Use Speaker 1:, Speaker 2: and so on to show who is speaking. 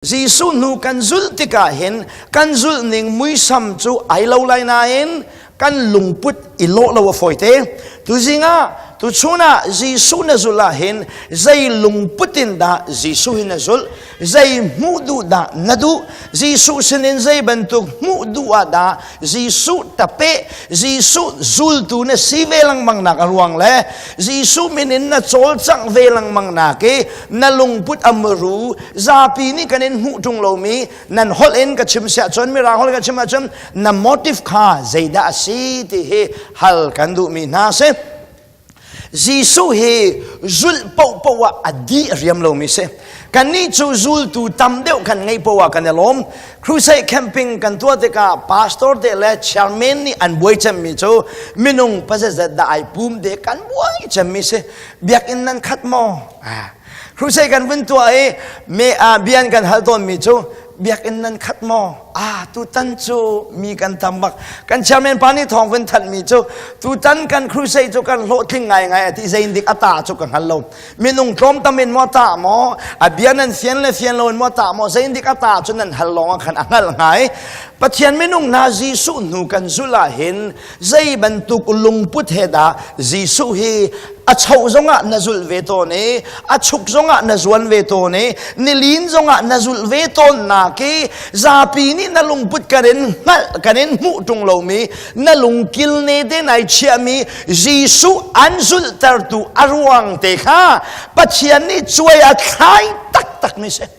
Speaker 1: Jesuh hnu kan zulh tikah hin kan zulh ning muisam cu ai lo lai nain kan lungput i lawh lo a fawite. Tuzing ah tuchun ah Jesuh na zulh ah hin zei lungput in dah Jesuh hi na zulh? Zei hmuh duh dah na duh? Jesuh sinin zei bantuk hmuh duh ah dah Jesuh tape Jesuh zultu na si ve lengmang nak a ruang le Jesuh min in na cawlcangh ve lengmang nak i na lungput a muru zapi nih kan in hmuh ṭung lomi nan holh in ka chim siah cun mirang holh in ka chim ahcun na motive kha zeidah a si ti hi hal kan duhmi hna si Jesuh hi zulh paohpaoh ah a dih a riam lomi si. Kannih cu zultu tam deuh kan ngeih paoh ah kan i lawm. Crusade camping kan tuah tikah pastor te le chairman nih an buai cemmi cu minung pazazat dah ai pum de kan buai cemmi si. Biakinn nan khat maw? Ah. Crusade kan vun tuah i me, ah, bian kan hal tawnmi cu biakinn nan khat maw ah tutan cu mi kan tam bak kan chairman pa nih thawng kan thanhmi cu tutan kan crusade cu kan hlawhtling ngai ngai a ti zein dik a ta cu ka hngal lo minung tlawm tam in maw ta maw a bia nan fian le fian lo in maw ta maw zein dik a ta cu nan hal lawng a khan a hngal ngai Pathian minung hna Jesuh hnu kan zulh ah hin Zei bantuk lungput he dah Jesuh hi a cho zongah na zulh ve tawn i a chuk zongah na zuan ve tawn i nilin zongah na zulh ve tawn nak i zapi nih na lungput kan in hngalh kan in hmuh ṭung lomi na lungkil ne te nai chiahmi Jesuh an zulhtertu a ruang te kha Pathian nih cuai a thlai taktakmi si.